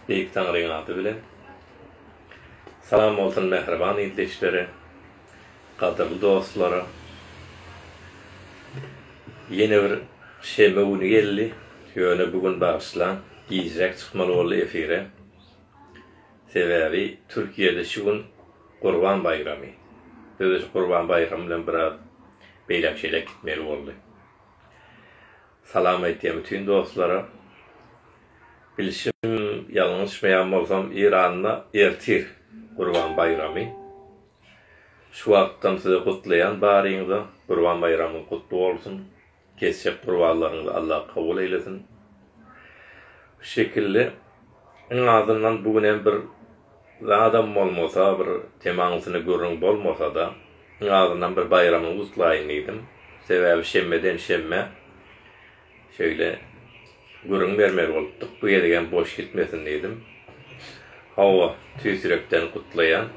Beýik Taňryň ady bilen. Salam bolsun mähriban ildeşlere, gadyrly dostlara. Ýene bir şenbe güni geldi, ýöne bu gün bagyşlaň, gijiräk çykmaly boldy efire. Sebäbi Türkiýede şu gün Gurban baýramy. Biz-de şu Gurban baýramy bilen biraz beýlek-şeýlek gitmeli boldy. Salam aýtýan bütin dostlara. Bilşim ýalňyşmaýan bolsam Iranda ertir Gurban baýramy. Şu wagtdan sizi gutlaýan baryňyza Gurban baýramyň gutly bolsun. Kesjek gurbanlaryňyzy Allah kabul eýlesin. Şu şekilli iň azyndan bu gün hem bir Zadam bolmasa bir temaňysyny gürrüň bolmasa-da, iň azyndan bir baýramyňy gutlaýyn diýdim. Sebäbi şenbeden şenbe şeýle gürrüň bermeli bolupdyk, bu gezegem boş gitmesin diýdim. Hawa, tüýs ýürekden gutlaýan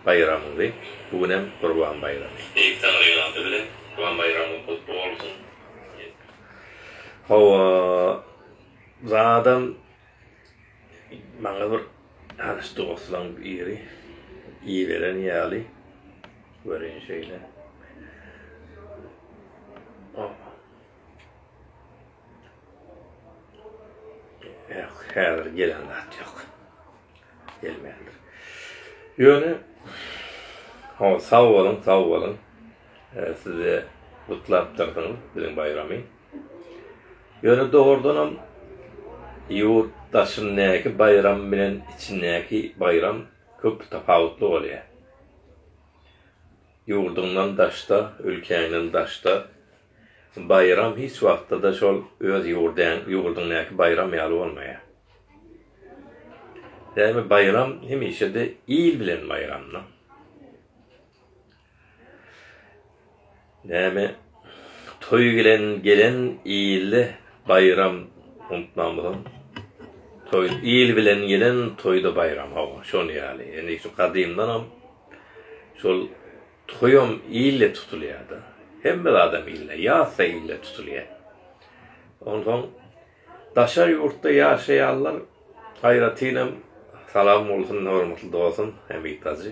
baýramyňy, bu günem Gurban baýramy. Beýik Taňryň ady bilen Gurban baýramyň gutly bolsun! Hawa, Zadam Maňa bir tanyş dostlaň biri iberen ýaly, göreýin şeýle. Häzir gelen zat ýok. Gelmändir. Ýöne Hawa, sag boluň, sag boluň. Size gutlapdyrsyň biziň baýramy. Ýöne dogrudanam ýurt daşyndaky baýram bilen içindäki baýram köp tapawutly bolýar. Ýurduňdan daşda, ülkäňden daşda baýram hiç wagtda-da şol öz ýurdaň, ýurduňdaky baýram ýaly bolmaýar. Sebäbi baýram hemişe-de il bilen baýramdyr. Näme toý bilen gelen ilde baýram unutmamyzam toý il bilen gelen toýda baýram hawa şon ýaly indi şu gadymdanam şol toýam ilde tutulýada hemme zadam ilde ýazda ilde tutulýa onsoň daşary ýurtda ýaşaýanlar aýratynam salam bolsun hormatly dosum Hemit hajy.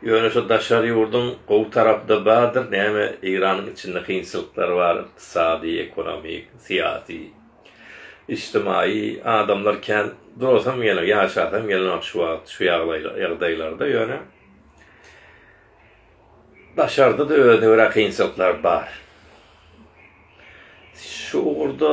Ýöne şu daşary ýurduň gowy tarapyda bardyr näme Eýranyň içinde kynçylyklar bar ykdysady ekonomik syýasy içtimaýy adamlar kän durasam gelenok ýaşasam gelenok şu wagt şu ýagdaýlarda ýöne daşarda da özüne görä kynçylyklar bar şu ugurda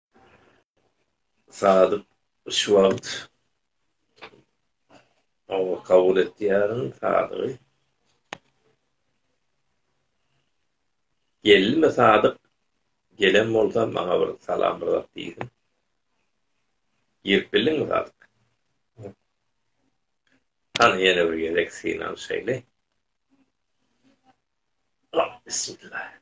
Sadyk şu wagt Hawa kabul etýärin Sadygy. Geldimi Sadyk? Gelen bolsa maňa bir salam bir zat diýsin. Girip bildiňmi Sadyk? Hany ýene bir gezek synan şeýle. Bismillah.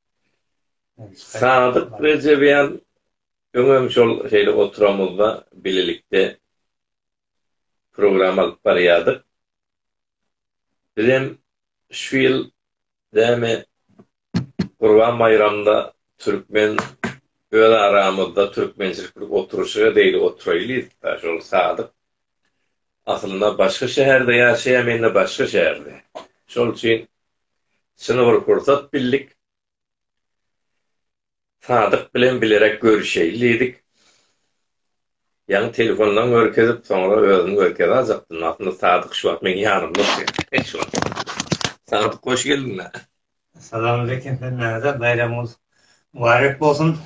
Sadyk Rejebjan öňem şol şeýle oturamyzda bilelikde program alyp barýardyk. Bizem şu ýyl näme Gurban baýramda türkmen öz aramyzda türkmençilik bir oturyşyga deýli oturaýlyda şol Sadyk Aslynda başga şäherde ýaşaýam indi başga şäherde. Şol üçin şyny bir pursat bildik. Sadyk bilen bilerek görüşeýin diýdik. Ýaňy telefondan görkezip soňra özüni görkezäjakdym. Aslynda Sadyk şu wagt meň ýanymda otyrdy. Şu wagt. Sadyk hoş geldiňä. Salamaleýkim hemmäňize baýramyňyz mübarek bolsun.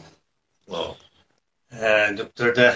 Sag bol. Dükderde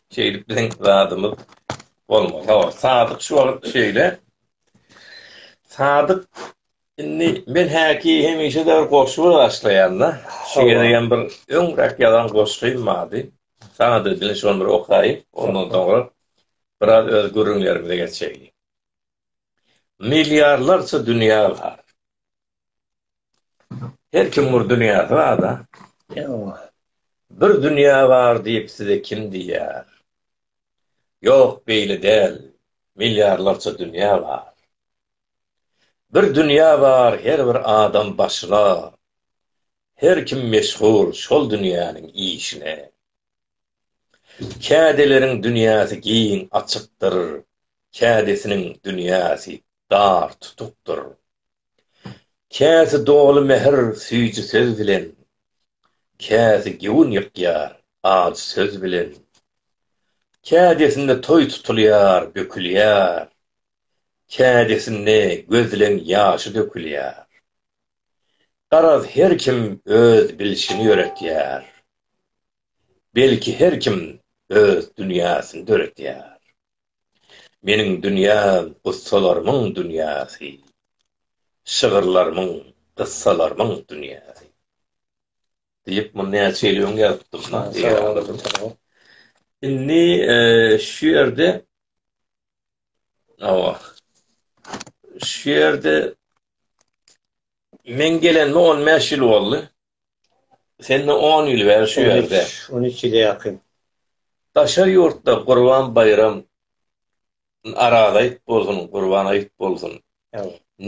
Şeýdip biziň zadymyz bolmaly. Hawa, Sadyk şu wagt şeýle. Sadyk indi men häki hemişe de bir goşgy başlaýan-da. Şu gezegem bir öňräk ýazan goşgym bardy. Saňa da bilen şony bir okaýyn. Ondan soňra biraz öz gürrüňlerimize geçeýin. Milliarlarça dünýä bar. Her kim bir dünýäsi bar-da. Bir dünýä bar diýip size kim diýýär? Ýok, beýle däl, milliarlarça dünýä bar. Bir dünýä bar her bir adam başyna, her kim meşgul şol dünýäniň işine. Kädeleriň dünýäsi giň açykdyr, kädesiniň dünýäsi dar tutukdyr. Käsi doly mähir süýji söz bilen, Käsi göwün ýykýar ajy söz bilen. Kädesinde toý tutulýar, bökülýär, Kädesinde gözleň ýaşy dökülýär. Garaz her kim öz bilşini ýöretýär, Belki her kim öz dünýäsini döretýär. Meniň dünýäm gussalarymyň dünýäsi, şygyrlarymyň, gyssalarymyň dünýäsi. Diýip, muny näçe ýyl öň ýazypdym. Indi şu ýerde Awa. Şu ýerde men gelenime 15 ýyl boldy. Sende on ýyl bäri şu ýerde. On üç ýyla ýakyn. Daşary ýurtda Gurban baýram Araz aýt bolsun, Gurban aýt bolsun.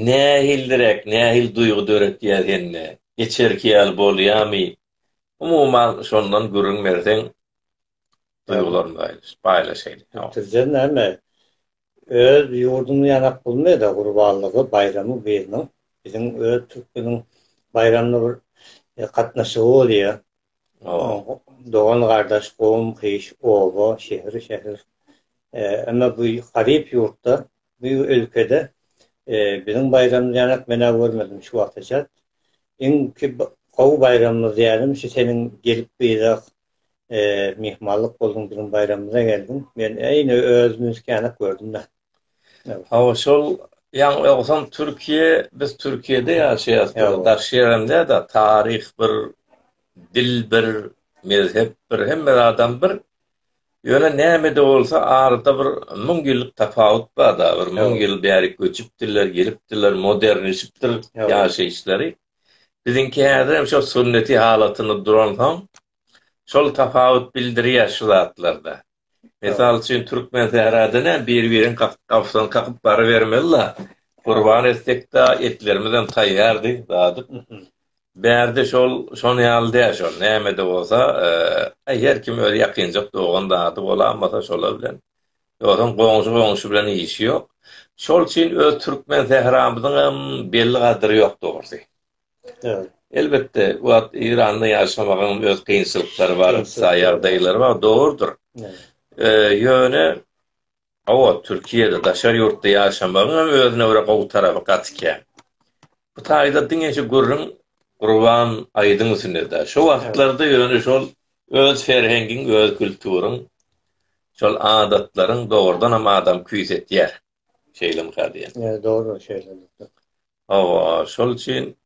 Nähildiräk, nähili duýgy döretýär sende? Geçerki ýaly bolýarmy? Umuman şondan gürrüň berseň, duýgularyňy paýlaşaýlyň. Türkçe näme? Öz ýurdumyz ýanak bulmeda gurbanlygy baýramy biziň biziň öz türkmeniň baýramyna bir gatnaşygy bolýa. Dogan gardaş gowum gyş oba şehir şehir emma bu garyp ýurtda bu ölkede biziň baýramyz ýanak menä görmedim şu wagta çat. Iňki gowy baýramyz diýýädim şu seniň gelip bize myhmanlyk bolduň biziň baýramyza geldiň. Men eýni özümi üskänek gördüm-de. Hawa şol ýaňy ýogsam Türkiýe biz Türkiýede ýaşaýas bize garşy ýerem däl-de taryh bir dil bir mezhep bir hemme zadam bir ýöne näme-de bolsa arada bir müň ýyllyk tapawut bar-da bir müň ýyl bäri göçüpdirler gelipdirler modernleşipdir ýaşaýyşlary Biziňki häzirem şo sünneti halatynda duransoň, şol tapawut bildirýär şu zatlarda. Mysal üçin, Türkmensährada näme bir-biriň gapysyny kakyp barybermeli-la, gurban etsek-de, etlerimizem taýýardy, dadyp. Bärde şol, şonuň ýaly däl şol, näme-de bolsa, aý, her kim öz ýakynjak dogan-dady bolanmasa, şolar bilen Ýogsam goňşy goňşy bilen işi ýok. Şol üçin öz türkmen sähramyzyň hem belli gadyry ýok dogrusy. Elbetde bu wagt Eýranda ýaşamagyň öz kynçylyklary bar, ykdysady ýagdaýlary bar, dogrudyr. Ýöne hawa Türkiýede daşary ýurtda ýaşamagyň hem özüne görä gowy tarapy gaty kän. Bu taýda diňe şu gürrüň Gurban Aýdyň üstünde-de. Şo wagtlarda ýöne şol Öz ferhengiň, öz külturyň, şol adatlaryň dogrudanam adamy küýs etýär. Şeýlemika diýen. Ýa dogry şeýle elbetde. Hawa, şol üçin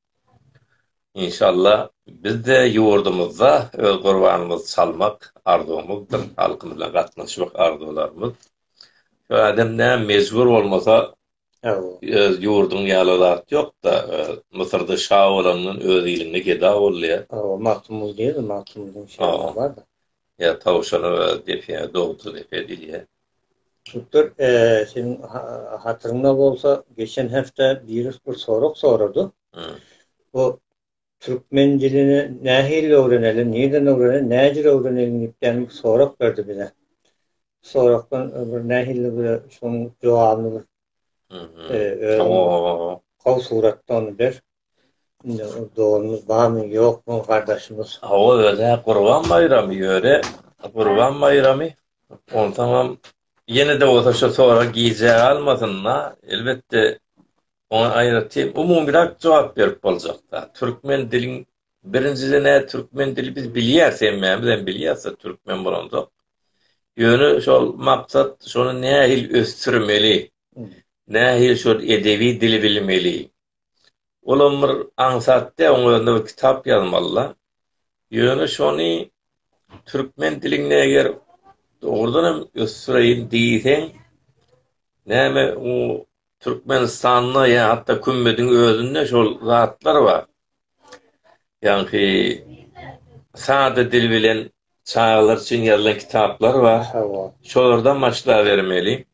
inşalla bizde ýurdumyzda öz gurbanymyzy çalmak arzuwymyzdyr, halkymyz bilen gatnaşmak arzuwlarymyz. Şu adam näme mejbur bolmasa Öz ýurduň ýaly zat ýokda. Müsürde şa bolandan öz iliňde geda bolýa. Hawa, Magtymguly diýýäs, Magtymgulynyň şygary barda. Ýa tawşana we depä dogdy depe diýýä. Doktor, seniň hatyryňda bolsa, geçen hepde biri bir sorag sorady. Bu Türkmen dilini nähili öwreneli, nirden öwreneli, näjür öwreneli diýipden bir sorag berdi bize. Soragdan bir nähili bir şoň jogabyny bir gowy suratda ony ber. Indi dogumyz barmy, ýokmy, gardaşymyz. Hawa, özi Gurban baýramy ýöre, Gurban baýramy. Onsoňam ýene-de bolsa şu sorag gijä galmasyn-da, elbetde Oňa aýratyn umumyrak jogap berip boljakda, türkmen diliň birinjiden ä türkmen dili biz bilýäris, hemmämiz hem bilýäris-de türkmen bolanda. Ýöne şol maksat şony nähili ösdürmeli, nähili şol edebi dili bilmeli. Olam bir aňsat dä, oň özüne bir kitap ýazmaly-da. Ýöne şony türkmen dilini eger dogrudan hem ösdüreýin diýseň, näme u Türkmenistanda ýa hatda kümmediň özünde şol zatlar bar. Ýagny sada dil bilen çagalar üçin ýazylan kitaplar bar. Şolardan başlabermeli.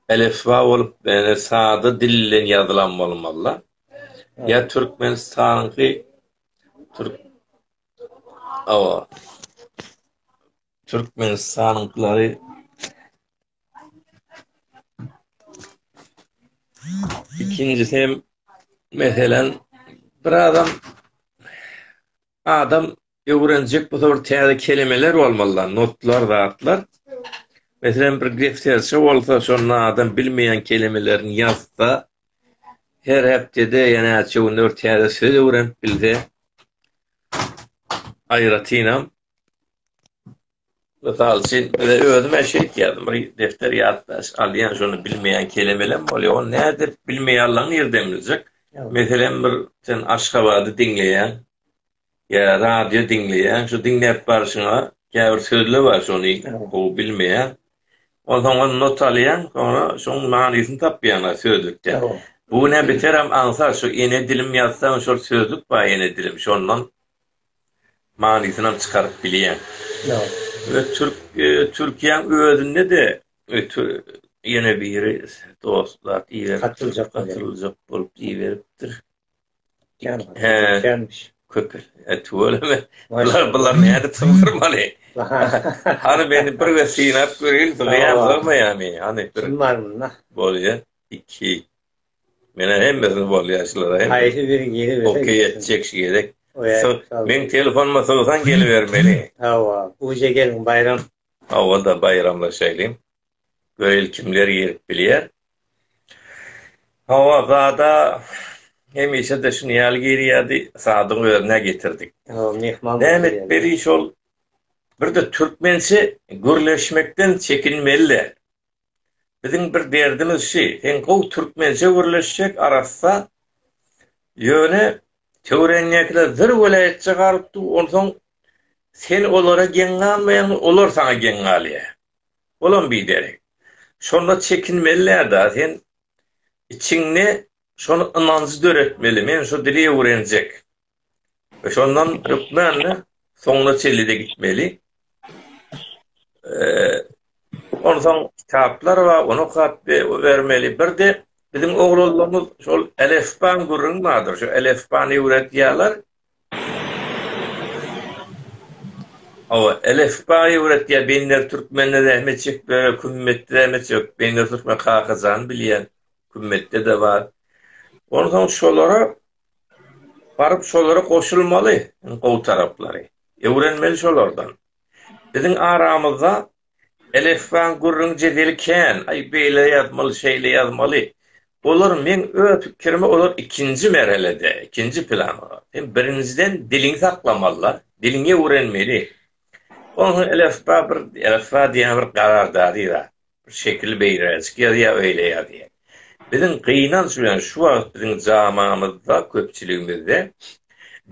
Elifba bolup, ýa sada dil bilen ýazylan bolmaly. Ýa Türkmenistanyňky türk Awa. Türkmenistanyňkylary Ikinjisi hem meselen bir adam adam öwrenjek bu bir täze kelimeler bolmalylar, notlar, zatlar. Meselen bir defterçe bolsa, şonda adam bilmeýän kelimelerini ýazsa, her hepdede ýa-da näçe günde bir täze söz öwrenip bilse, aýratynam Mysal üçin, bize özüm-ä şeýt ýazdym, bir defter ýatlaş alýan, şony bilmeýän kelemelem bolýar, ony nädip bilmeýärler, nirden biljek? Meselem, bir sen Aşgabady diňleýäň ýa radio diňleýäň, şu diňläp barşyňa käbir sözler bar, şony gowy bilmeýäň. Onsoň ony not alýaň, soňra şoň manysyny tapýaň sözlükden. Bu näme biterem aňsat, şu ene dilim ýazsaň, şol sözlük bar ene dilim, şondan manysynam çykaryp bilýän. We türk Türkiýäň özünde-de ýene biri dostlar ýatyljak ýatyljak bolup diýiberipdir. Känmiş. Köpel. Tüweleme. Bular bular nädip syňdyrmaly. Hany meni bir gezek synap göreýin, sygýarmy sygmaýarmy. Hany. Bolýa. Iki. Mena hemmesini bolýaşlara hem. Haýsy biri giri bilse. Okey etjek şu gezek. Men telefonuma sowsan gelibermeli. Hawa, uje geliň baýram. Hawa da baýramlaşaýlym. Göýeli kimler girip bilýär. Hawa zada hemişe-de şuny ýaly girýärdi. Sadyň özüne getirdik. Hawa, mehman. Näme etmeli şol? Birde türkmençe gürleşmekden çekinmeli. Biziň bir derdimiz şi, seň gowy türkmençe gürleşjek arassa, ýöne töweregiňdekiler bir welaýatça galyp dur, onsoň sen olara geň galmaýaň, olar saňa geň galýar. Olam biderek. Şonda çekinmelidir-dä sen içiňde şony ynanjy döretmeli, men şu dili öwrenjek. we şondan hökmän-de soňuna çenli-de gitmeli. Onsoň kitaplar bar, ony okap bermeli. Bir-de biziň oglanlarymyz şol elefbaň gürrüňi bardyr, şu elefbany öwredýärler. Hawa, elefbaňy öwredýär, Beýner türkmende zähmet çekip ýör, Kümmetde zähmet çek, Beýner türkmen Kakajan bilýän, Kümmetde-de bar. Onsoň şolara Baryp şolara goşulmaly, gowy taraplary, öwrenmeli şolardan. Biziň aramyzda elifbaň gürrüň jedeli kän, aý beýle ýazmaly, şeýle ýazmaly. Olar meň öz pikirime olar ikinji merhelede, ikinji planda. Sen birinjiden diliňi saklamaly-da, diliňi öwrenmeli. Onsoň elifba bir elifba diýýän bir garar dady zat. Bir şekili beýräjik ýazýar, öýle ýazýar. Biziň gynanç bilen şu wagt biziň jamamyzda, köpçüligimizde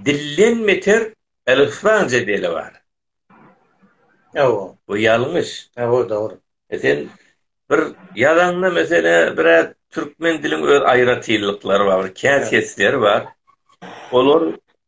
dilden beter elifban jedeli bar. Hawa. Bu ýalňyş. Hawa, dogry. E sen bir ýazaňda meselä biraz türkmen diliň öz aýratynlyklary bar, bir käsesleri bar. Olar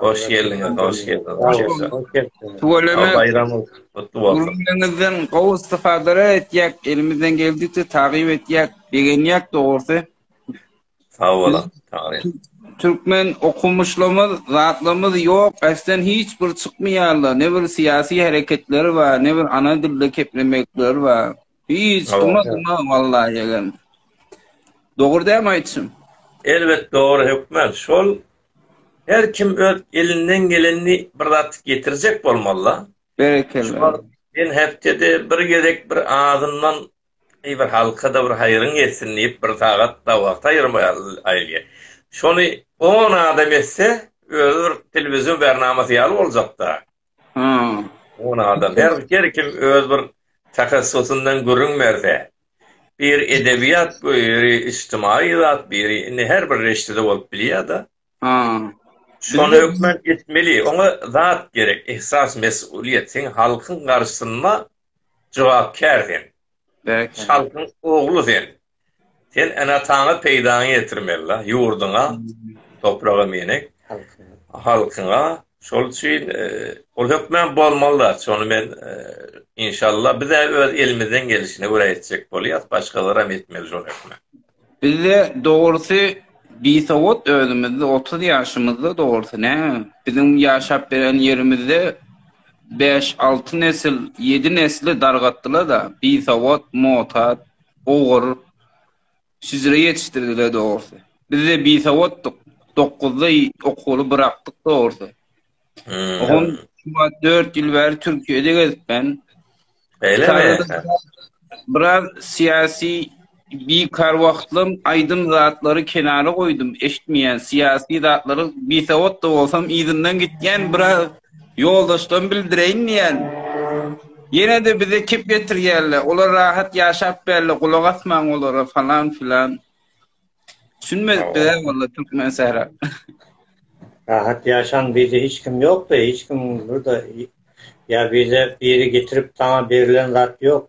Hoş geldiňiz, hoş geldiňiz. Tuweleme. Baýramyň gutly bolsun. Gürrüňiňizden gowy istifada etjek, elimizden geldikçe takyp etjek, begenýek dogrusy. Sag boluň. Türkmen okumuşlarymyz, zatlarymyz ýok, äsden hiç bir çykmaýarlar. Ne bir syýasy hereketleri bar, ne bir ana dilde keplemekleri bar. Hiç kim adyma wallahi egem. Dogry dämi aýtşym? Elbet dogry hökman şol her kim öz elinden gelenini bir zat getirjek bolmalyda. Berekella. Men hepdede bir gezek bir azyndan eý bir halkada bir haýryň ýetsin diýip bir sagat da wagt aýyrmaýaryn. Şony on adam etse özi bir telewizion bärnamasy ýaly boljakda. Hmm. On adam. Her, her kim öz bir takassusyndan gürrüň berse. Bir edebiýat, biri içtimai zat, biri indi her bir reşdede bolup bilýär-de. Hmm. Şony hökman etmeli. Oňa zat gerek, ihsas, mes'uliýet. Sen halkyň garşysynda jogapkär sen. Berekella. Halkyň ogly sen. Sen ene-ataňa peýdaňy ýetirmeli-la, ýurduňa, topraga meýnek, halkyňa. Şol üçin ol hökman bolmaly-da. Şony men, inşallah, biz-ä öz elimizden gelişine görä etjek bolýas, başgalaram etmeli şol hökman. Bizde, dogrusy, bisowat özümizde, otuz ýaşymyzda, dogrusy, näme, biziň ýaşap beren ýerimizde bäş-alty nesil, ýedi nesli dargatdylar-da, bisowat, mutat, ogur, şüjre ýetişdirdiler dogrusy. Bizde bisawatdyk, dokuzda okuwly bırakdyk dogrusy. Ogun şuwa dört ýyl bäri Türkiýede gezip ben. Biraz siyasi bir kar wagtlym aýdym zatlary kenara goýdum, eşitmeýän siyasi zatlary bisawat da bolsam yzyndan gitýän biraz Ýoldaşdan bildireýin diýen. Ýene-de bize kep getirýärler. Olar rahat ýaşap bärli, gulak asmaň olara falan filan. Düşünmedik biz hä walla türkmen sähra. Rahat ýaşaň bizde hiç kim ýokda hiç kim burada ýa bize biri getirip saňa berilen zat ýok.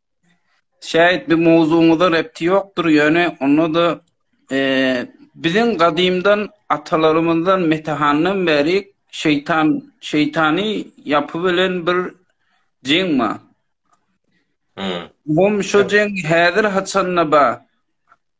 Şäýit bu mowzugyňyza repti ýokdur, ýöne onda-da biziň gadymdan atalarymyzdan Metehandan bäri şeýtan şeýtany ýapy bilen bir jeň bar. Hum şo jeň häzir haçanda bar.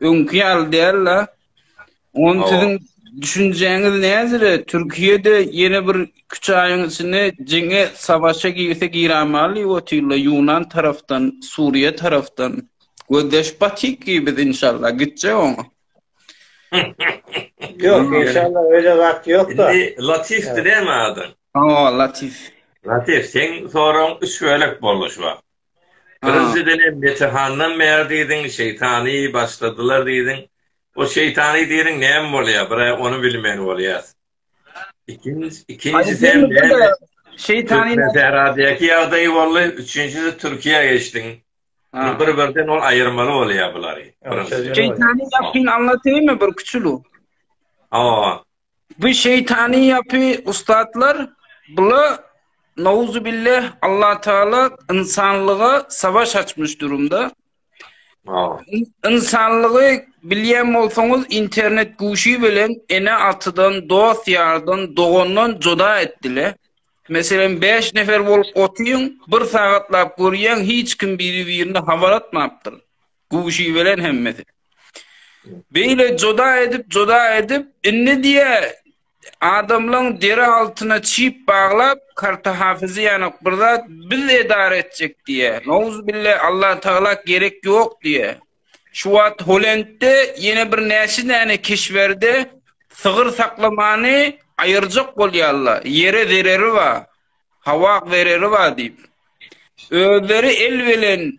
Öňki ýaly däl-de. Ony siziň düşünjäňiz näzire, Türkiýede ýene bir üç aýyň içinde jeňe, savaşa girse girämaly diýip otyrlar, ýunan tarapdan, Suriýe tarapdan. Gözleşip batyk ki biz inşallah, gitjek oňa. Ýok, inşallah öýle zat ýok-da. Indi Latifdi näme adyň? Hawa, Latif. Latif, seň soragyň üç bölek boldy şu wagt. Birinji bilen Metehandan bäri diýdiň, şeýtany başladylar diýdiň. O şeýtany diýdiň näme bolýar? Bir-ä ony bilmän bolýas. Ikinjisi hem näme? Şeýtany Türkmensähradäki ýagdaý boldy, üçünjisi Türkiýä geçdiň. Bir-birden ol aýyrmaly bolýar bulary. Şeýtany ýapyň aňlatymy bir kiçilu? Hawa. Bu şeýtany ýapy ussatlar bula Nauzubillah Allah Taala ynsanlyga savaş açmyş durumda. Ynsanlygy bilýän bolsaňyz internet guşy bilen ene atydan dost ýardan dogandan joda etdile. Meselem 5 nefer bolup otyň bir sagatlap görýän hiç kim biri birini habar atmapdyr. Guşy bilen hemmesi. Beýle joda edip, joda edip, indi diye adamlaň deri altına çip baglap, karta hafyzy yanok bir zat biz edar etjek diye. Nouz bille Allah Taala gerek yok diye. Şu wagt Holendde yine bir näçe däne keşberde sygyr saklamany aýyrjak bolýarlar. Ýere zereri bar. Hawa zereri bar diýip. Özleri el bilen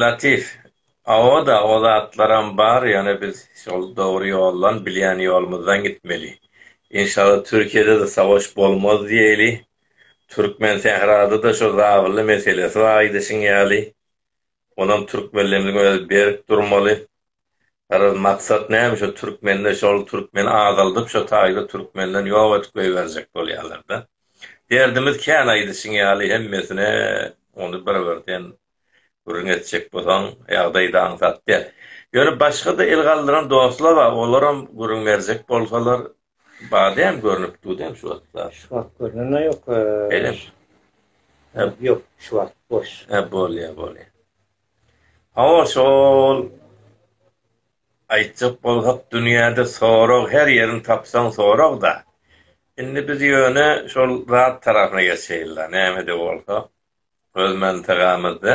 Latif, Hawa-da, o zatlaram bar, ýöne biz şol dogry ýoldan, bilýän ýolumyzdan gitmeli. Enşalla Türkiýede-de savaş bolmaz diýeli. Türkmensährada-da şo zabylly meselesi bar aýdyşyň ýaly. Onam türkmenlerimiziň özi berk durmaly. Garaz maksat näme şu türkmende şol türkmeni azaldyp şo taýda türkmenden ýok edip goýberjek bolýalarda. Derdimiz kän aýdyşyň ýaly hemmesine ony bir birden gürrüň etjek bolsaň ýagdaýda aňsat däl. Ýöne başgada el galdyran dostlar bar olaram gürrüň berjek bolsalar Badem görünüp durdy hem şu wagtlar. Şu wagt görnenä ýok. Elem. Hep ýok, şu wagt boş. Hep bolýa, bolýa. Hawa şol aýtjak bolsak dünýäde sorag her ýerini tapsaň soragda. Indi biz ýöne şol zat tarapyna geçeýinla näme-de bolsa öz mantagamyzda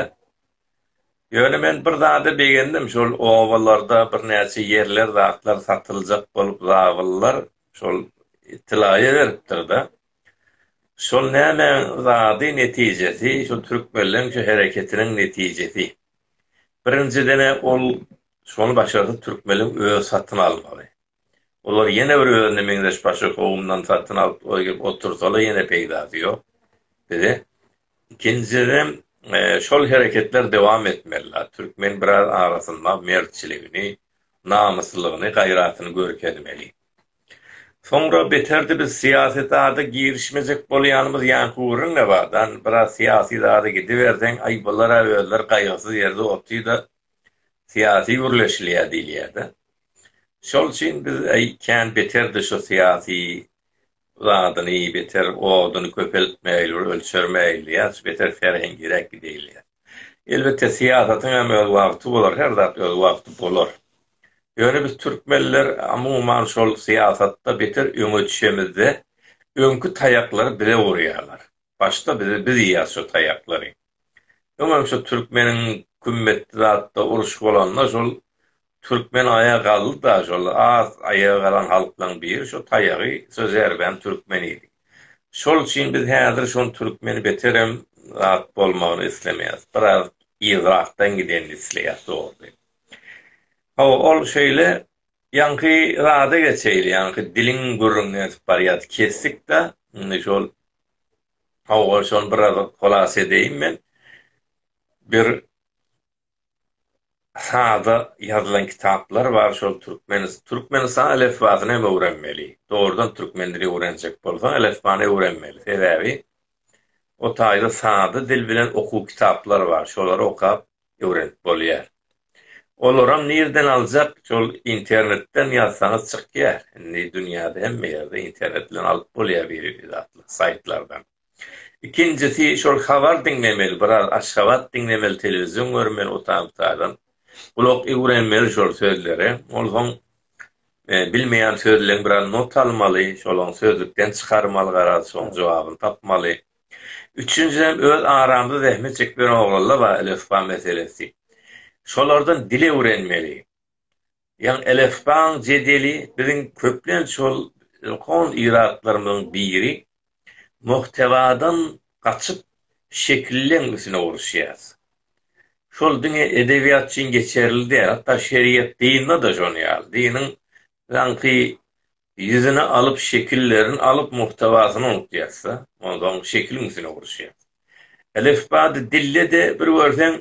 Ýöne men bir zada begendim, şol obalarda birnäçe ýerler, zatlar satyljak bolup zabyllar şol tilaýa beripdir-de. Şol nämäň zady, netijesi, şu türkmenleň şu hereketiniň netijesi. Birinjiden-ä ol şony başarsa türkmenleň özi satyn almaly. Olar ýene bir özüne meňzeş başga kowumdan satyn alyp gelip otursalar ýene peýdasy ýok bize. Ikinjiden şol hereketler dowam etmelidir. Türkmen biraz arasynda mertçiligini, namyslylygyny, gaýratyny görkezmeli. Soňra beterdi biz syýasy zada girişmejek bolýanymyz ýaňky gürrüň ne bardan biraz syýasy zada gidiberseň aý bulara özleri gaýgysyz ýerde otyda syýasy gürleşilýä diýilýädä. Şol üçin biz äý kän beterdi şu syýasy zadyny beter oduny köpeltmegil bir ölçermegil diýýäs beter serhengiräk gidegil diýýäs. Elbetde syýasatyň hem öz wagty bolar her zat öz wagty bolar. Ýöne biz türkmenler amuman şol syýasatda beter öňe düşemizde öňki taýaklary bize urýarlar. Başda bizi biz iýýäs şo taýaklary. Öňem şo türkmeniň kümmetli zatda uruş bolanda şol türkmen aýa galdyda şol az aýa galan halklaň biri şo taýagy şo zerbäni türkmen iýdi. Şol üçin biz häzir şon türkmeni beterem zat bolmagyny islemeýäs. Biraz yzrakdan gidenini isleýäs dogry. Hawa ol şeýle ýaňky zada geçeýli ýaňky diliň gürrüňini edip barýas kesdikda indi şol Hawa, şony biraz hylasa edeýin men. Bir sada ýazylan kitaplar bar, şol türkmen, türkmenistan elifbasyny hem öwrenmeli. Dogrudan türkmen dilini öwrenjek bolsaň, elifbany öwrenmeli. Sebäbi o taýda sada dil bilen okuw kitaplar bar. Şolary okap, öwrenip bolýar. Olaram nirden aljak şol internetden ýazsaňyz çykýar. Indi dünýäde hemme ýerde internet bilen alyp bolýar biri bir zatlar saýtlardan. Ikinjisi şol habar diňlemeli biraz Aşgabat diňlemeli telewizion görmeli o taýdan bu taýdan. Gulak öwrenmeli şol sözlere. Onsoň bilmeýän sözleň biraz not almaly şolaň sözlükden çykarmaly garaz şoň jogabyny tapmaly. Üçünjiden öz aramyzda zähmet çekmeýän oglanlar bar elifba meselesi. Şolardan dil öwrenmeli. Ýagny elifbaň jedeli biziň köplenç şol ilkhon yratlarymyzyň biri muhtewadan gaçyp şekilleň üstüne uruşýas. Şol diňe edebiýat üçin geçerli däl hatda şeriýat dynda-da şon ýaly. Dynyň daňky Ýüzüne alyp şekillerin alyp muhtawasyny unup ýazsa, onsoň şekiliň üstüne uruşýar. Elifbady dille-de bir görseň,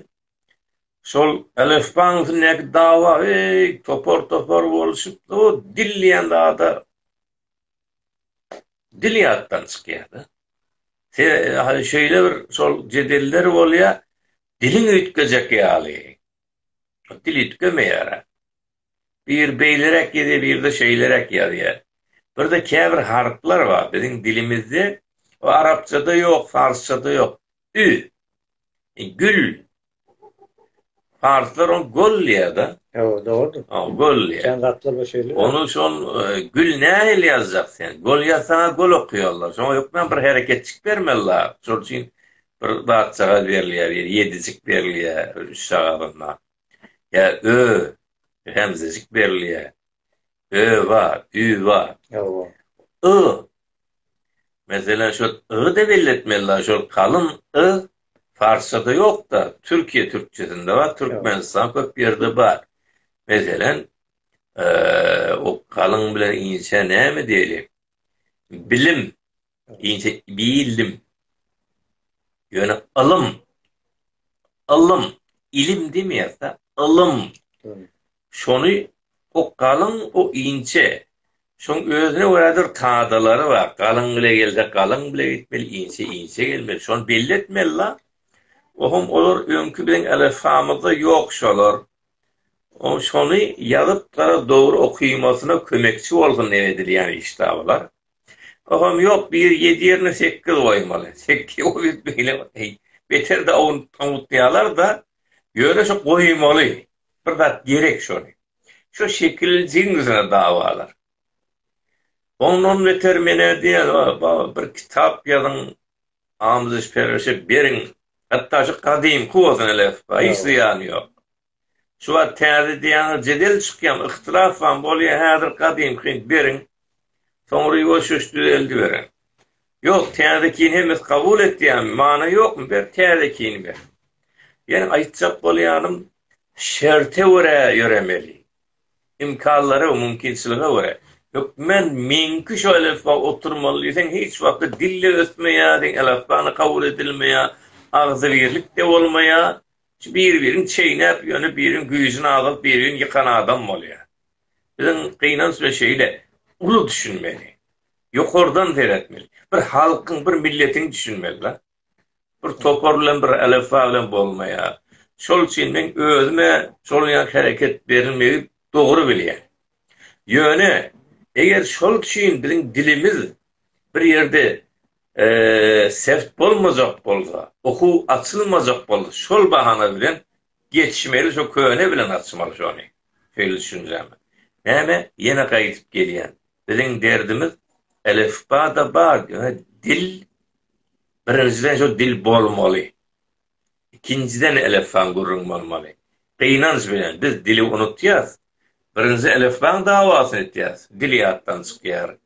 şol elifbaň üstündäki dawa heý, topar-topar boluşyp, o dil diýen zada dil ýatdan çykýar-da. Sebäbi şeýle bir şol jedeller bolýar, diliň üýtgejek ýaly. Dil üýtgemeýär-ä. Bir beýleräk ýazýar, bir-de şeýleräk ýazýar. Bir-de käbir harplar bar, biziň dilimizde we arapçada ýok, parsçada ýok. Ü. Gül. Parslar ony gol diýýär-de. Hawa, dogrudyr. Hawa, gol diýýär. Kän zatlar bar şeýle. Ony şol gül nähili ýazjak sen? Gol ýazsaň-a gol okaýarlar. Şoňa hökmän bir hereketjik bermeli zat. Şol üçin bir zatjagaz berilýär, ýedijik berilýär üç sagazynda. ýa ö remzijik berilýär. Öwa, üwa. Öwa. Y. Meselem, şol y-da belletmeli dagy, şol kalyn y parsçada ýok-da, türkiýe türkçesinde bar, türkmenistan köp ýerde bar. Meselem, o kalyn bilen inçä näme diýeli? Bilim, Inçe bildim. Ýöne ylym, ylym, ilim demeýärse, ylym. Şony okgalyň o inçe. Şoň özüne görädir kadalary bar. Galyň bile gelse, galyň bile gitmeli, inçe, inçe gelmeli. Şony belli etmeli-la. Ohum olar öňki biziň elifbamyzda ýok şolar. O şony ýazyp gara dogry okymasyna kömekçi bolsun edilýän işdäbular. Soham ýok bir ýedi ýerine sekiz goýmaly. Sekiz goýup beýle heý beter-de awunyp awutýalar-da. Ýöne şo goýmaly. Bir zat gerek şony. Şo şekiljigiň ýüzüne dawalar. Ondan beter men-ä diýen baba bir kitap ýazyň amydyş-perwerişe beriň. Hatda şu gadymky bolsun elefba hiç zyýany ýok. Şu wagt täze ideýaňyz jedel çykýam, yhtilafam bolýa, häzir gadymky beriň, soňra ýuwaş-ýuwaş düzeldiberiň. Ýok, täzekini hemmesi kabul etýämi, many ýokmy, ber täzekini ber. Ýene aýtjak bolýanym, şerte görä ýöremeli. Imkanlara we mümkinçilige görä. Hökmän meňki şu elifba oturmaly diýseň, hiç wagtda dil-de ösmeýär, elifba-da kabul edilmeýär, agzybirlik-de bolmaýar, Bir-birin çeýnäp, ýöne biriň güýjüni azalyp, birigini ýykan adam bolýar. Biziň gynanç we şeýle uly düşünmeli. Ýokardan seretmeli. Bir halkyň, bir milletiň düşünmeli la. Bir topar bilen, bir elifba bilen bolmaýar. Şol üçin men özüme şol ýa hereket berilmegi dogry bilýän. Ýöne eger şol üçin biziň dilimiz bir ýerde seft bolmajak bolsa, okuw açylmajak bolsa şol bahana bilen geçmeli şo köne bilen açmaly şony. Şeýle düşünjämi? Näme ýene gaýdyp gelýän. Biziň derdimiz elifba-da bar ýöne dil birinjiden şo dil bolmaly. ikinjiden elefbaň gürrüň bolmaly. Gynanç bilen biz dili unutýas, birinji elefbaň dawasyny etýäs, dil ýatdan çykýar.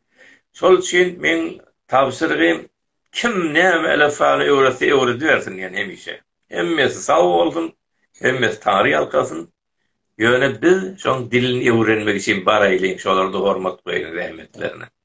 Şol üçin meň tabşyrygym kim näme elefbany öwretse öwredibersin diýen hemişe. Hemmesi sag bolsun, hemmesi taňry ýalkasyn. Ýöne biz şoň dilini öwrenmek üçin baraýlyň, şolarda hormat goýalyň zähmetlerine.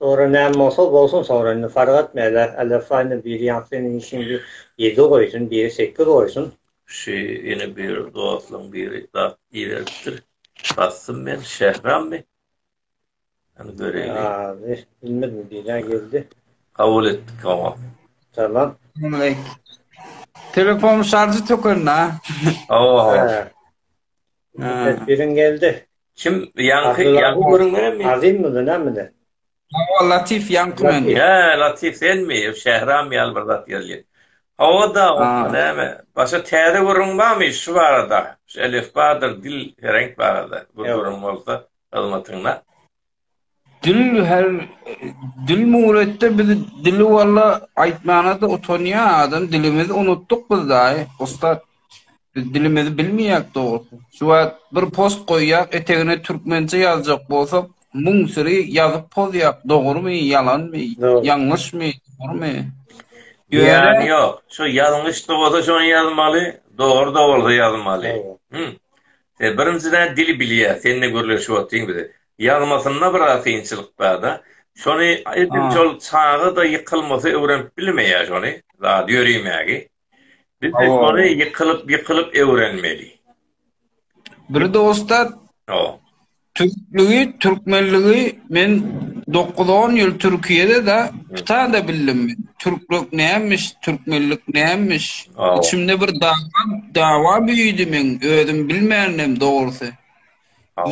Sogra näme bolsa bolsun sogra indi fark etmeýle Alefa indi biri ýaňky seniň işiň bir ýedi goýsun biri sekiz goýsun. Şu ine bir dostlaň biri zat iberipdir bassym men Şehrammy? Hany göreýli. Azy bilmedim biri geldi. Kabul etdik oňa. Salam. Salamaleýk. Telefonyň şarjy tökendi a. Hawa hawa. Biriň geldi. Kim ýaňky ýaňky görünmeňmi? Azimmi nämede? Hawa Latif ýaňky men. Ýa Latif senmi? Şähram ýaly bir zat gelýär. Hawa-da näme? Başga täze gürrüň barmy şu barada? Şu elifbadyr dil hereng barada bir gürrüň bolsa hyzmatyňda. Dil her dil muretde biz dili walla aýtmana-da utanýa adam dilimizi unutdyk biz daýy ussat. Biz dilimizi bilmeýäk dogrusy. Şu wagt bir post goýýak etegine türkmençe ýazjak bolsak müň syry ýazyp pozýak dogrymy ýalanmy ýalňyşmy dogrymy. Ýöne ýok şu ýalňyşda bolsa şony ýazmaly dogryda bolsa ýazmaly. Sen birinjiden dili bilýä sende gürleşip otyň biz Ýazmasynda biraz kynçylyk barda. Şony edil şol çaga-da ýykylmasy öwrenip bilmeýär şony, zady ýörimägi. Biz-de şony ýykylyp, ýykylyp öwrenmeli. Bir dosta Türkligi, Türkmenligi men dokuz-on ýyl Türkiýede-de, pyta-da bildim men. Türklük nämiş, Türkmenlik nämiş? Içimde bir dawa, dawa büýüdi meň, özüm bilmändim dogrusy.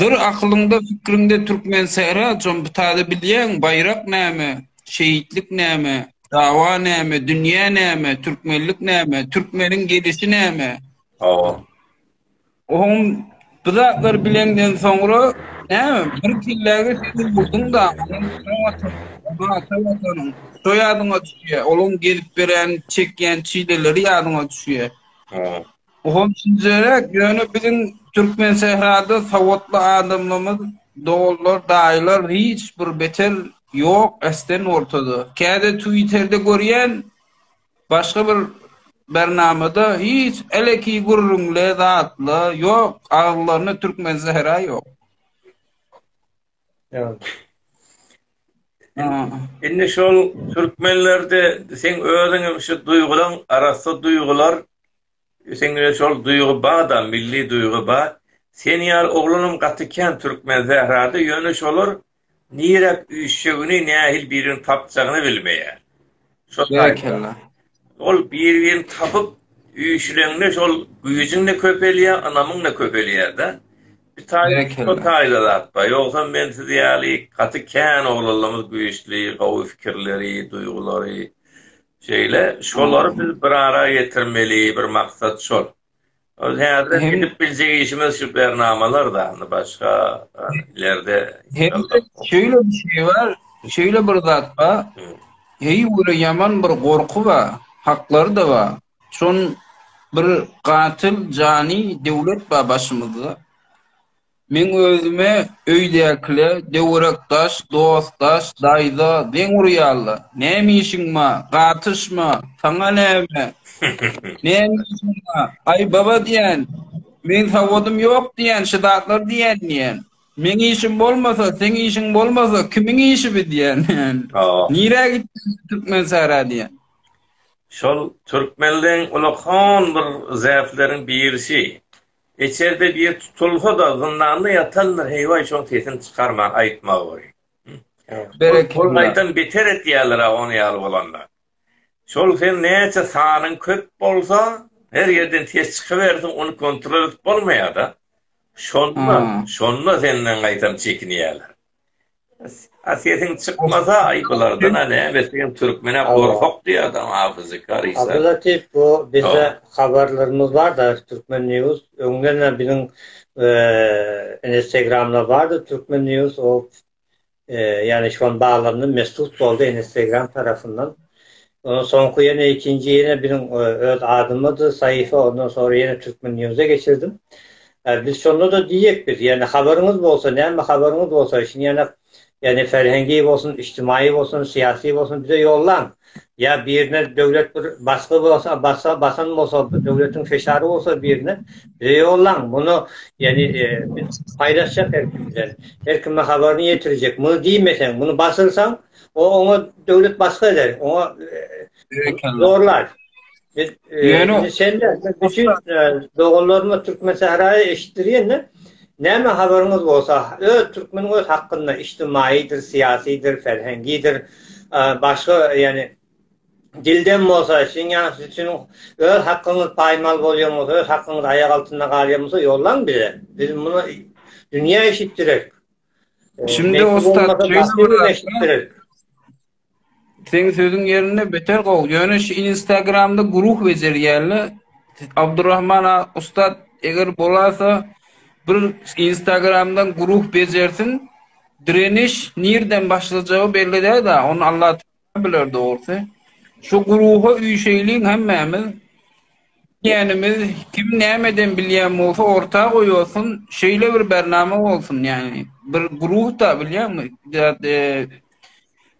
Dur akylyňda fikriňde türkmen sähra com bu taze bilýäň baýrak näme şehitlik näme dawa näme dünýä näme türkmenlik näme türkmeniň gelişi näme Hawa. Oňum bu zatlar bileňden soňra näme bir kelläge siňip urduň daňyny ata watan ata watanyň şo ýadyňa düşýä olaň gelip berýän çekýän çileleri ýadyňa düşýä. Olam şinjeräk, ýöne biziň Türkmensährada sowatly adamlarymyz, doganlar, daýylar hiç bir beter ýok äsden ortada. Käde twitterde görýän, başga bir bernamada hiç eleki gürrüňle, zatla ýok, agzylarynda Türkmensähra ýok. Indi şol türkmenlerde sen özüňe şu duýgulan arassa duýgular sende şol duýgy bada, milli duýgy ba. Sen ýaly oglanam gaty kän türkmen sährada, ýöne şolar nirek üýşjegini, nähili birini tapjagyny bilmeýär. Şol taýda. Ol bir-birini tapyp, üýşüleňde şol güýjüň-de köpelýär, ynamyň-da köpelýär-de. Bir taýda şo taýda zat-da. Ýogsam men siz ýaly gaty kän oglanlarymyz güýçli, gowy pikirleri, duýgulary şeýle. Şolary biz bir ara getirmeli, bir maksat şol. Ol häzir edip biljek işimiz şu bernamalar da, indi başga ilerde. Şöyle bir şey var, şöyle bir zat ba, heý ure yaman bir gorku ba, haklar da ba, şun bir katil cani devlet ba başımızda. Meň özüme öýdäkile döwerekdaş, dostdaş, daýza deň urýarlar. Näme işiň ba? Gatyşma! Saňa näme? Näme işiň ba? Aý, baba diýýän, meň sawadym ýok diýýän, şu zatlary diýýän diýýän. Meň işim bolmasa, seň işiň bolmasa, kimiň işi bi diýýän. Nirä gitdi Türkmensara diýýän. Şol türkmenleň uly hon bir zätleriň birisi. Eçerde bir tutulsa-da, zyndanda ýatandyr, heý-waý, şoň sesini çykarman aýtmagy boly. Berekella. Ol gaýtam beter etýärler-ä ony ýaly bolanda. Şol sen näçe sanyň köp bolsa, her ýerden ses çykybersin, ony kontrol edip bolmaýar-da. Şonda, şonda senden gaýtam çekinýärler. A sesiň çykmasa aý bulardan a näme sen türkmene gorkak diýýärdi a fyzikar işler. Abdulatif bu bizde habarlarymyz bar da türkmen news öňden hem biziň instagramda bardy türkmen news o ýany şu an baglandy mesut boldy instagram tarapyndan Ondan soňky ýene ikinji ýene biziň öz adymyzdy saýfa ondan sonra ýene Türkmen News-a geçirdim. Biz şonda-da diýjek biz ýani habaryňyz bolsa näme habaryňyz bolsa şini ýana ýani ferhengi bolsun içtimaýy bolsun syýasy bolsun bize ýollaň ýa birine döwlet bir basgy bolsa basa basan bolsa döwletiň feşary bolsa birine bize ýollaň muny ýani biz paýlaşjak her kim bilen her kime habaryny ýetirjek muny diýmeseň muny basylsaň O oňa döwlet basga eder. Oňa zorlar. Ýöne sen de bütün doganlaryma türkmen sahraýy eşitdirýän-de. Näme habaryňyz bolsa, öz türkmeniň öz hakynda içtimaýydyr, syýasydyr, ferhengidir, başga ýani dilden bolsa, şunuň ýaly üçin öz hakyňyz paýmal bolýan bolsa, öz hakyňyz aýak altynda galýan bolsa, ýollaň bize. Biz muny dünýä eşitdirek. Şindi ussat şeýle bir zat. Seň sözüň ýerinde beter gowy. Ýöne şu Instagramda guruh bejerýärle. Abdurrahman ussat eger bolasa bir Instagramdan guruh bejersin. Direniş nirden başlajagy belli däl-de. Onu Allah Bular dogrusy. Şu guruha üýşeýliň hemmämiz. Bilýänimiz kim nämeden bilýän bolsa orta goýasyn, şeýle bir bernama bolsun ýagny. Bir guruhda bilýäňmi?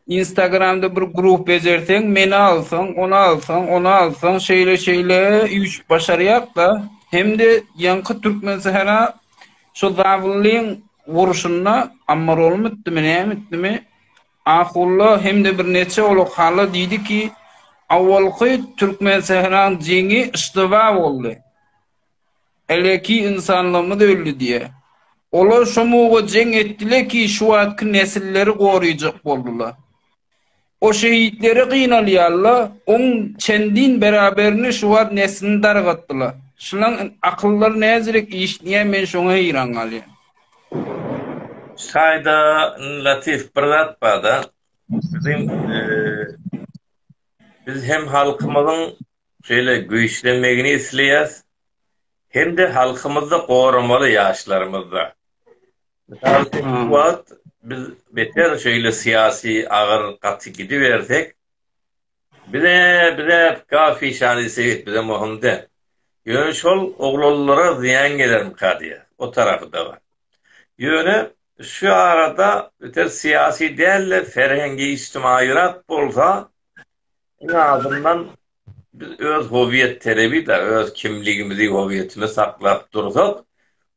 Instagramda bir guruh bejerseň, meni alsaň, ony alsaň, ony alsaň, şeýle şeýle üýşüp başarýakda. Hemde ýaňky türkmen sähra şu zawllyň urşunda ammarolmytdymy, nämitdimi? Akulla hem-de birnäçe uly hally diýdi ki, awalky Türkmen-Sähran jeňi yşdyba boldy. Eleki ynsanlygymyz öldi diýýär. Olar şo muga jeň etdiler ki, şu wagtky nesilleri goraýjak boldular. O şehitleri gynalýarlar, oň çendin beraberini şu wagt neslini dargatdylar. Şulaň akyllary näzirek işleýär, men şoňa heýran galýan. Şaýda Latif bir zat barda biziň biz hem halkymyzyň şeýle güýçlenmegini isleýäs hemde halkymyzda goramaly ýaşlarymyzda. Mysal üçin bu wagt biz beter şeýle syýasy agyr gaty gidibersek Bile, bile, gafyşany sebit bize möhüm däl. Ýöne şol oglanlara zyýan gelermika diýýär. O tarapy-da bar. Ýöne şu arada beter syýasy däl-de, ferhengi-ijtimaýyrak bolsa, iň azyndan biz öz howiýet talebi-da, öz kimligimizi, howiýetimizi saklap dursak,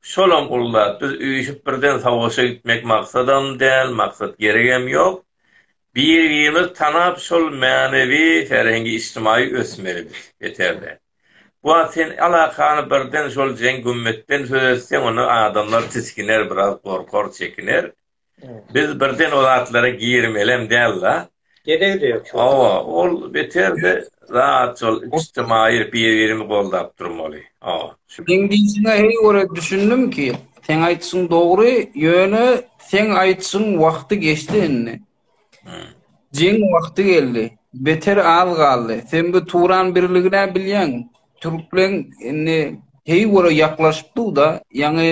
şolam uly zat. Biz üýşüp birden savaşa gitmek maksadam däl, maksat geregem ýok. Biri-birimizi tanap, şol mänewi, ferhengi, ijtimaýy ösmelidiris, beter-de. Bu wagt sen alakany birden şol jeň-gümmetden söz etseň, onda adamlar tisginer, biraz gorkar, çekiner. Biz birden o zatlara girmelem däl-la. Geregi-de ýok şol. Hawa, ol beter-de, Rahatçyl, içtimaýy bir-birimi goldap durmaly. O. Seň diýşiňe heý görä düşündim ki, seň aýtşyň dogry, ýöne seň aýtşyň wagty geçdi indi. Jeň wagty geldi. Beter az galdy. Sen bu Turan birligine bilýäň. Türkleň indi heý görä ýaklaşyp dur-da, ýaňy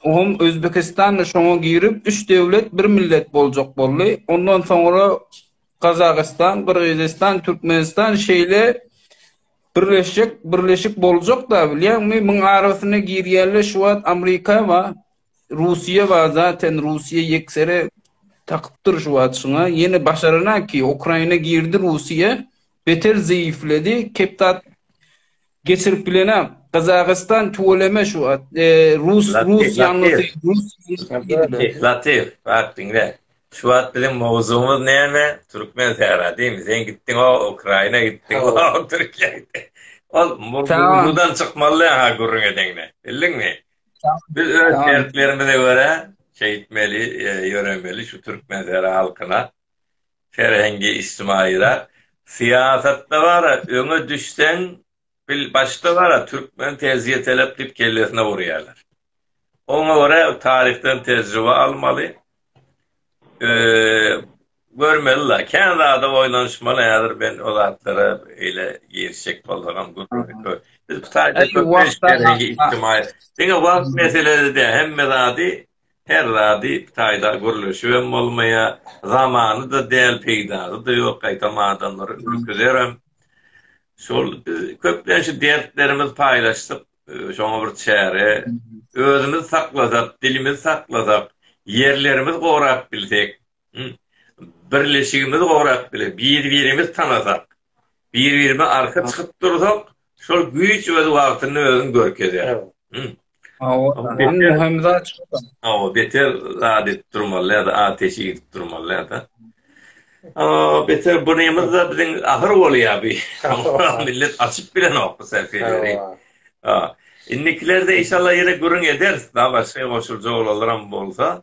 Hom Özbekistan-da şoňa girip, üç döwlet, bir millet boljak boldy. Ondan soňra Gazagystan, Gyrgyzystan, Türkmenistan şeýle birleşjek, birleşik boljak-da, bilýäňmi? Muň arasyna girýänler şu wagt Amrika bar, Russiýa bar, zaten Russiýa ýeksere takyp dur şu wagt şuňa. Ýene başarana ki, Ukraina girdi Russiýa, beter zeýifledi, kepdar Geçirip bilenam. Gazagystan tüweleme şu at. E, Rus, Latif, Rus ýalňysy, Latif. Rus ýalňysy. Latif, bak diňle. Şu wagt biziň mowzugymyz näme? Türkmen sähra diými? Sen gitdiň o Ukraina gitdiň, o Türkiýe gitdiň. Ol Tamam. mowzudan çykmaly ha gürrüň edeňde. Bildiňmi? Biz öz Tamam. şertlerimize görä şeýtmeli, e, ýöremeli şu türkmen sähra halkyna. Ferhengi-ijtimaýyda, syýasatda bara öňe düşseň, bil, başda bara türkmen tez ýetelep diýip kellesine urýarlar. Oňa görä taryhdan tejribe almaly, görmeli-la, kän zada oýlanyşmaly, häzir men o zatlara eýle girişjek bolsagam gürrüňi. Biz bu taýda köp iş Ferhengi-ijtimaýy. Diňe wagt meselesi däl, hemme zady Her zady taýda gürleşibem bolmaýa, zamany-da däl, peýdasy-da ýok, gaýtam adamlary ürküzerem. Şol biz köplenç şu dertlerimizi paýlaşsak, şoňa bir çäre, özümizi saklasak, dilimizi saklasak, ýerlerimizi gorap bilsek, Birleşigimiz gorap biler. Bir-birimizi tanasak, bir-birimize arka çykyp dursak, şol güýç öz wagtynda özüni görkezýär. Hawa, beter zat edip durmalyda, ateşi ýitip durmalyda. Beter bu nemizde biziň ahyr bolýar bi. Millet açyp bilenok bu sähifeleri. Indikilerde inşallah ýene gürrüň ederis, başga goşuljak olanlaram bolsa.